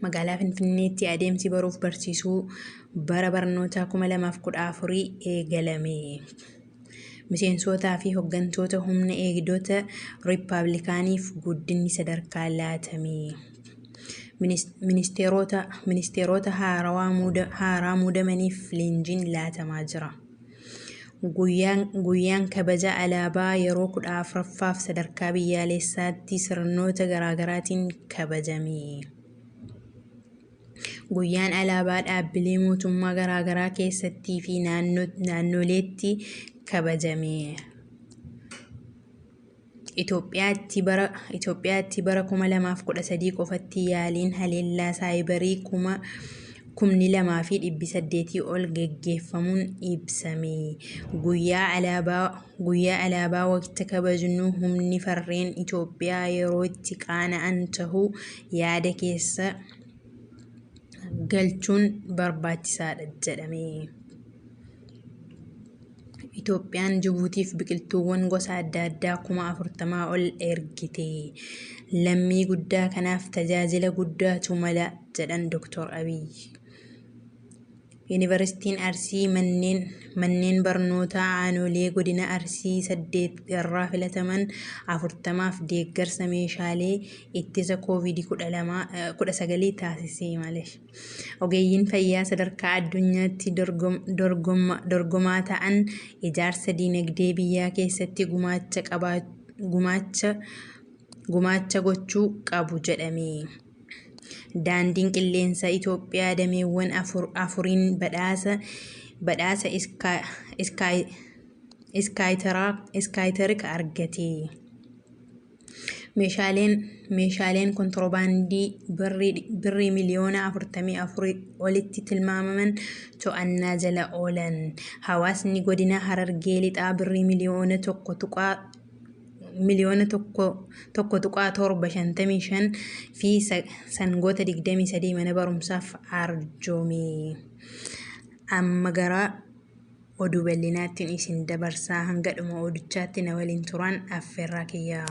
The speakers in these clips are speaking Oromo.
Magaalaa Finfinneetti adeemsi baruuf barsiisuu bara barnootaa 2014 eegalame. Miseensootaa fi hoggantoota humna eegdota Riippaabilikaaniif guddinni sadarkaa laatame. Ministeerota haaraa muudamaniif leenjiin laatamaa jira. Guyyaan kabaja alaabaa yeroo 14ffaaf sadarkaa biyyaaleessaatti sirnoota garaagaraatiin kabajame. Guyyaan alaabaa dhaabbilee mootummaa garaagaraa keessattii fi naannoleetti kabajame. Itoophiyaatti bara Itoophiyaatti bara 2013 qofatti yaaliin haleellaa saayibarii kuma kumni lamaa fi dhibbi saddeetii ol geggeeffamuun ibsame. Guyyaa alaabaa Guyyaa alaabaa waqta kabajnu humni farreen Itoophiyaa yeroo itti qaana'an tahuu yaada keessa galchuun barbaachisaadha jedhame. Itoophiyaan Jibuutiif biqiltuuwwan gosa adda addaa kuma 40 ol ergite. Lammii guddaa kanaaf tajaajila guddaatu mala jedhan Doktar Abiyyi. Yuunivarsiitiin Arsii manneen manneen barnootaa aanolee godina Arsii 8 irraa filataman 40f deeggarsa meeshaalee ittisa Covid 19 taasise. Ogeeyyiin fayyaa sadarkaa addunyaatti dorgomaa ta'an ijaarsa diinagdee biyyaa keessatti gumaacha gochuu qabu jedhame. Daandiin Qilleensaa Itoophiyaa dameewwan afuriin badhaasa Iskaayitariik argate. Meeshaaleen meeshaaleen kontirobaandii Birrii miliyoona 44 olitti tilmaamaman to'annaa jala oolan. Hawaasni godina Harargee Lixaa Birrii miliyoona 1.755 fi sangoota 23 mana barumsaaf arjoome. Amma gara Oduu bal'inaattin isin dabarsaa hanga dhuma oduchaatti na waliin turaan affeerraa kiyya.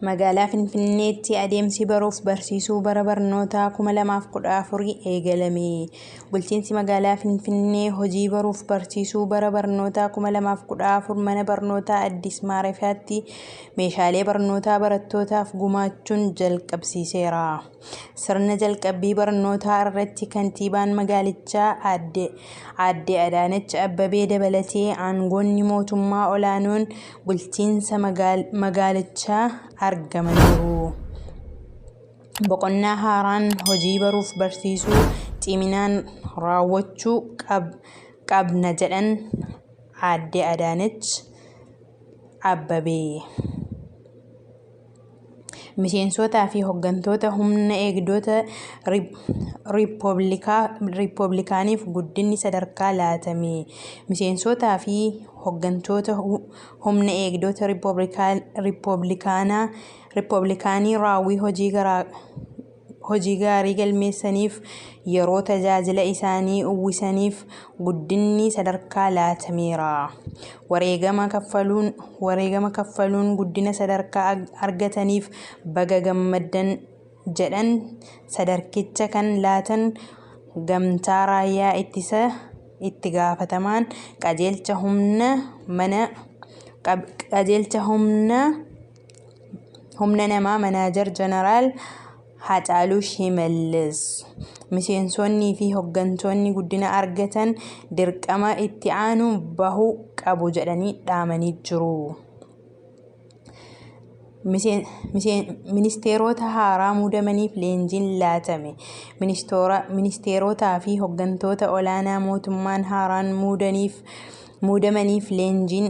Magaalaa Finfinneetti adeemsi baruuf barsiisuu bara barnootaa 2014 eegalame. Bulchiinsi magaalaa Finfinnee hojii baruuf barsiisuu bara barnootaa 2014 mana barnootaa Addis Maarefiyaatti meeshaalee barnootaa barattootaaf gumaachuun jalqabsiiseera. Sirna jalqabbii barnootaa irratti kantiibaan magaalichaa aadde aadde Adaanach Abbabee dabalatee aangoonni mootummaa olaanoon bulchiinsa magaalichaa argamaniiru. Boqonnaa haaraan hojii baruuf barsiisuu ciminaan raawwachuu qabna jedhan aadde Adaanach Abbabee. Miseensootaa fi hoggantoota humna eegdota Riippoblikaaniif guddinni sadarkaa laatame. Miseensootaa fi hoggantoota humna eegdota Riippoblikaanii raawwii hojii garaa hojii gaarii galmeessaniif, yeroo tajaajila isaanii uwwisaniif guddinni sadarkaa laatameera. Wareegama kaffaluun, wareegama kaffaluun guddina sadarkaa argataniif baga gammaddan jedhan sadarkicha kan laatan Gamtaa Raayyaa Ittisa Itti Gaafatamaan Qajeelcha Humna Mana Qajeelcha Humna Humna namaa Manaajar Jeneraal Haacaaluu Shimallis. Miseensonnii fi hoggantoonni guddina argatan dirqama itti aanu bahuu qabu jedhanii dhaamanii jiru. Miseen- miseen- Ministeerota haaraa muudamaniif leenjiin laatame. Ministoora- Ministeerotaa fi hoggantoota olaanaa mootummaan haaraan muudaniif muudamaniif leenjiin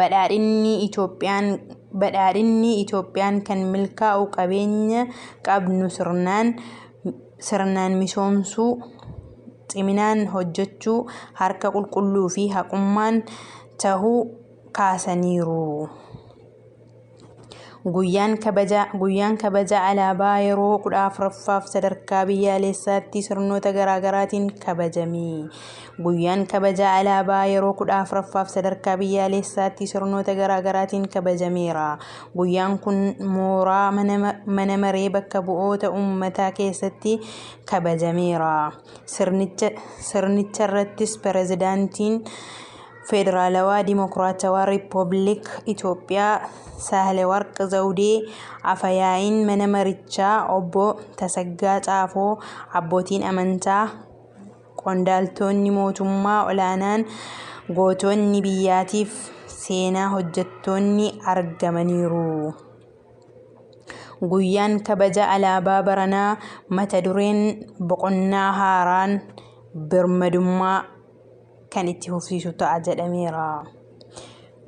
Badhaadhinni Itiyoophiyaan kan milkaa'u qabeenya qabnu sirnaan misoomsuu, ciminaan hojjechuu, harka qulqulluu fi haqummaan tahuu kaasaniiru. Guyyaan kabaja Guyyaan kabaja alaabaa yeroo 14ffaaf sadarkaa biyyaalessaatti sirnoota garaagaraatiin kabajame. Guyyaan kabaja alaabaa yeroo 14ffaaf sadarkaa biyyaalessaatti sirnoota garaagaraatiin kabajameera. Guyyaan kun mooraa mana maree bakka bu'oota uummataa keessatti kabajameera. Sirnicharrattis pirezidaantiin Federaalawaa Dimokiraatawaa Rippoobilik Itoophiyaa Saahilewarq Zawdee, Afa-yaa'iin mana marichaa Obbo Tasaggaa Xaafoo, abbootiin amantaa, qondaaltoonni mootummaa olaanaan, gootonni biyyaatiif seenaa hojjettoonni argamaniiru. Guyyaan kabaja alaabaa baranaa mata dureen boqonnaa haaraan birmadummaa. kan itti fufsiisu ta'a jedhameera.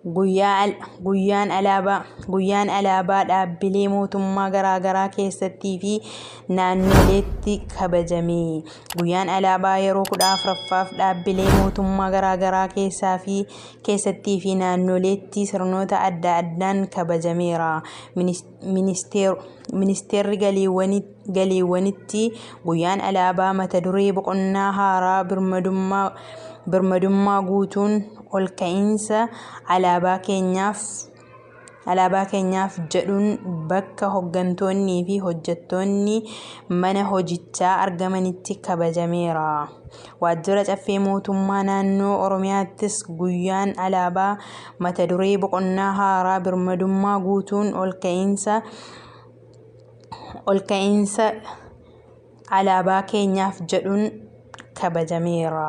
Guyyaan alaabaa Guyyaan alaabaa dhaabbilee mootummaa garaagaraa keessattii fi naannoleetti kabajame. Guyyaan alaabaa yeroo kudha afuraffaaf dhaabbilee mootummaa garaagaraa keessaa fi keessattii fi naannoleetti sirnoota adda addaan kabajameera. Ministeerri Ministeerri Galiiwwanitti guyyaan alaabaa mata duree boqonnaa haaraa birmadummaa guutuun olka'iinsa alaabaa keenyaaf jedhuun bakka hoggantoonnii fi hojjettoonni mana hojichaa argamanitti kabajameera. Waajjira Caffee Mootummaa Naannoo Oromiyaattis guyyaan alaabaa mata duree Boqonnaa Haaraa Birmadummaa Guutuun Olka'iinsa Olka'iinsa Alaabaa Keenyaaf jedhuun kabajameera.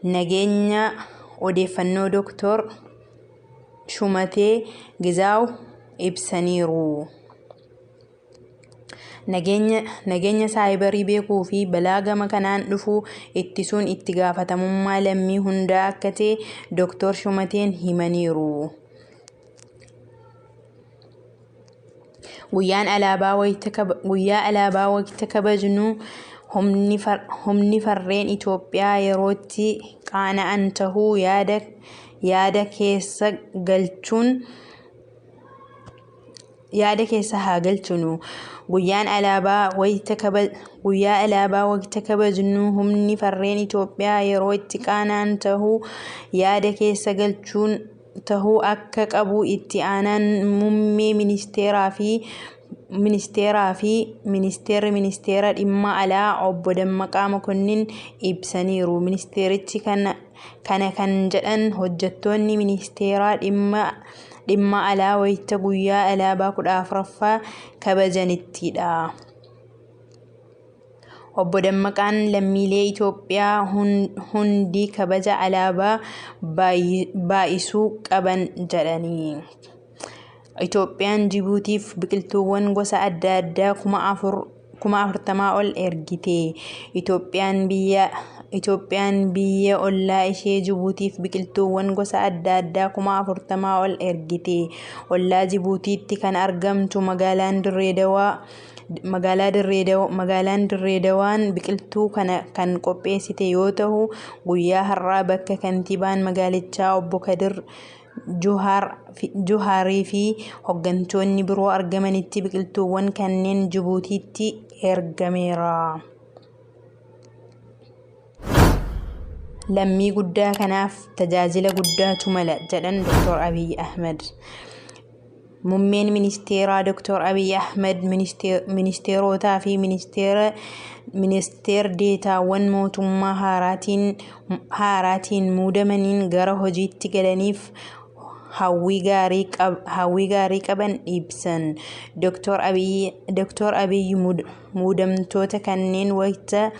Nageenya Odeeffannoo Doktoor Shumatee Gizaaw ibsaniiru. Nageenya nageenya saayibarii beekuu fi balaa gama kanaan dhufu ittisuun itti gaafatamummaa lammii hundaa akka ta'e Doktoor Shumateen himaniiru. Guyyaan alaabaa wayita kaba, guyyaa alaabaa wayita kabajnu humni, far, humni farreen Itoophiyaa yerootti qaana'an tahuu yaada, yaada keessa galchuun yaada keessa haa galchinu. Guyyaan alaabaa wayita kaba, guyyaa alaabaa wayita kabajnu humni farreen Itoophiyaa yeroo itti qaana'an tahuu yaada keessa galchuun tahuu akka qabu Itti Aanaan Mummee Ministeeraa fi Ministeeraa fi Ministeerri Ministeera Dhimma Alaa Obbo Dammaqaa Mokonnin ibsaniiru. Ministeerichi kana kan jedhan hojjettoonni Ministeera Dhimma Alaa wayita guyyaa alaabaa 14ffaa kabajanittidha. Obbo Dammaqaan lammiilee Itoophiyaa hundi kabaja alaabaa baay'isuu qaban jedhanii, Itoophiyaan Jibuutiif biqiltuuwwan gosa adda addaa kuma 40 ol ergite, Itoophiyaan biyya ollaa ishee Jibuutiif biqiltuuwwan gosa adda addaa kuma 40 ol ergite, ollaa Jibuutiitti kan argamtu magaalaan Dirree Dawaa Magaalaa Dirree Dawaa Magaalaan Dirree Dawaan biqiltuu kana kan qopheessite yoo tahu guyyaa har'aa bakka kantiibaan magaalichaa obbo Kadir Juhaarii fi hoggantoonni biroo argamanitti biqiltuuwwan kanneen Jibuutiitti ergameera. lammii guddaa kanaaf tajaajila guddaatu mala jedhan Dr. Abiy Ahmed. Mummeen ministeeraa Dr. Abiy Ahmed ministeerotaa fi ministeer deetaawwan mootummaa haaraatiin muudamaniin gara hojiitti galaniif hawwii gaarii qaban ibsan. Dr. Abiy Muudamtoota kanneen wayita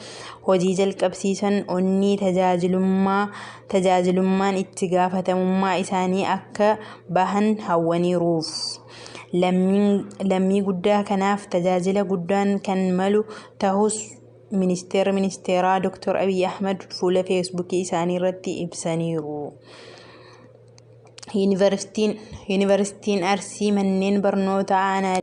hojii jalqabsiisan onnee tajaajilummaa, tajaajilummaan itti gaafatamummaa isaanii akka bahan hawwaniiruuf. Lammiin lammii guddaa kanaaf tajaajila guddaan kan malu tahus Ministeerri Ministeeraa Dr. Abiy Ahmad fuula Feesbuukii isaanii irratti ibsaniiru. Yuunivarsiitiin Yuunivarsiitiin Arsii manneen barnootaa aanaalee.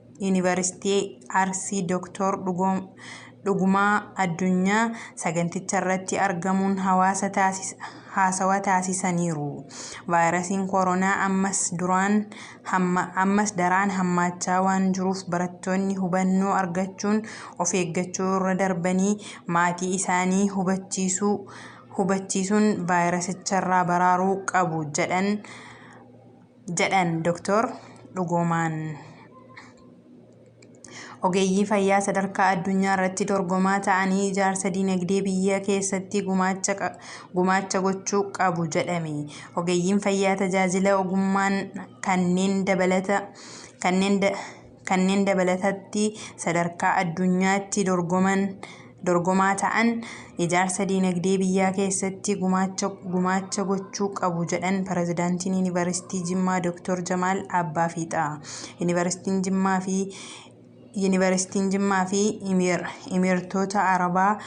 Yuunivarsiitii Arsii Doktor Dhugumaa Addunyaa saganticharratti argamuun hawaasa haasawa taasisaniiru. Vaayirasiin Koronaa ammas daraan hammaachaa waan jiruuf barattoonni hubannoo argachuun of eeggachuu irra darbanii maatii isaanii hubachiisuun vaayirasicharraa baraaruu qabu jedhan. jedhan Doktar Dhugoomaan. Ogeeyyii fayyaa sadarkaa addunyaa irratti dorgomaa ta'anii ijaarsa dinagdee biyyaa keessatti gumaacha gochuu qabu jedhame. Ogeeyyiin fayyaa tajaajila ogummaan kanneen dabalata kanneen Kanneen dabalatatti sadarkaa addunyaatti dorgoman dorgomaa ta'an ijaarsa diinagdee biyyaa keessatti gumaacha gumaacha gochuu qabu jedhan Pirezidaantiin Yuunivarsiitii Jimmaa Dooktor Jamaal Abbaa Fiixaa. Yuunivarsiitiin Jimmaa fi Yuunivarsiitiin Jimmaa fi Imiir, Imiirtoota Arabaa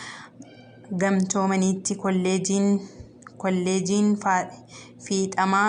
Gamtoomaniitti kolleejiin kolleejiin faa fiixamaa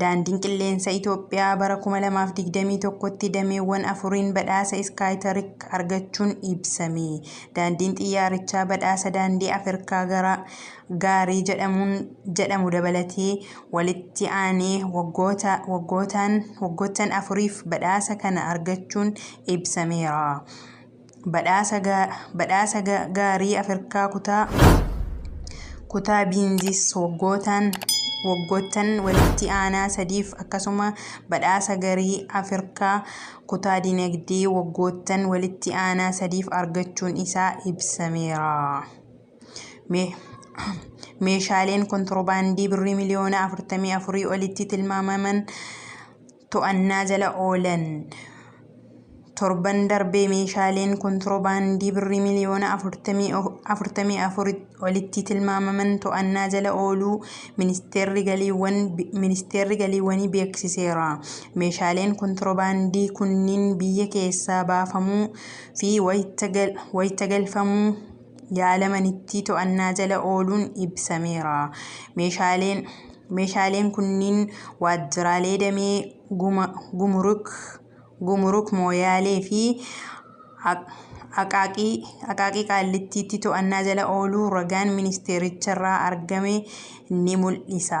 Daandiin Qilleensa Itoophiyaa bara 2021tti dameewwan afuriin badhaasa Iskaayitarik argachuun ibsame. Daandiin xiyyaarichaa badhaasa daandii Afirkaa gara gaarii jedhamuun jedhamu dabalatee walitti aanee waggoota waggootaan waggoottan afuriif badhaasa kana argachuun ibsameera. Badhaasa Gaarii Afirkaa Kutaa Kutaa Biinzis waggootaan waggoottan walitti aanaa sadiif akkasuma Badhaasa Garii Afirkaa Kutaa Dinagdee waggoottan walitti aanaa sadiif argachuun isaa ibsameera. Me- Meeshaaleen kontirobaandii birrii miliyoona 44 olitti tilmaamaman to'annaa jala oolan. Torban darbe meeshaaleen kontirobaandii birrii miliyoona 44 olitti tilmaamaman to'annaa jala ooluu Ministeerri Galiiwwan Ministeerri Galiiwwanii beeksiseera. Meeshaaleen kontirobaandii kunniin biyya keessaa baafamuu fi wayita galfamuu yaalamanittii to'annaa jala ooluun ibsameera. Meeshaaleen Meeshaaleen kunniin waajjiraalee damee guma, gumuruk, gumuruk Mooyaalee fi Aqaaqii, Aqaaqii Qaallittiitti to'annaa jala ooluu ragaan ministeericharraa argame ni mul'isa.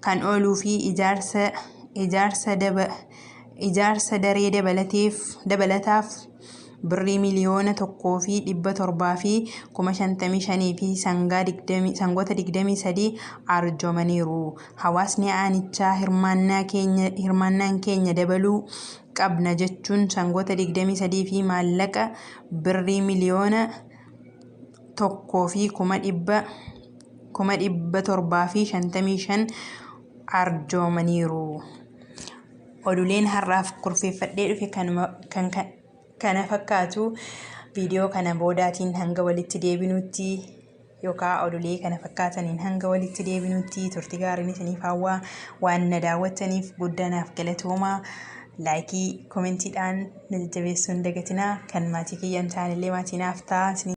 kan ooluu fi ijaarsa ijaarsa daba ijaarsa daree dabalateef dabalataaf birrii miliyoona tokkoo fi dhibba torbaa fi kuma shantamii shanii fi sangaa digdamii sangoota digdamii sadii arjoomaniiru. Hawaasni aanichaa hirmaannaa keenya hirmaannaan keenya dabaluu qabna jechuun sangoota digdamii sadii fi maallaqa birrii miliyoona tokkoo fi kuma dhibba kuma 755 arjoomaniiru. Oduuleen har'aaf kurfeeffadhee dhufe kanuma kan kan- kana fakkaatu viidiyoo kana boodaatiin hanga walitti deebinutti yookaan oduulee kana fakkaataniin hanga walitti deebinutti turtii gaariin isiniif hawwaa waan na daawwattaniif guddaa naaf galatoomaa laayikii komentiidhaan na jajjabeessuu hin dagatinaa kan maatii kiyya hin taanellee maatii naaf ta'aa isiniin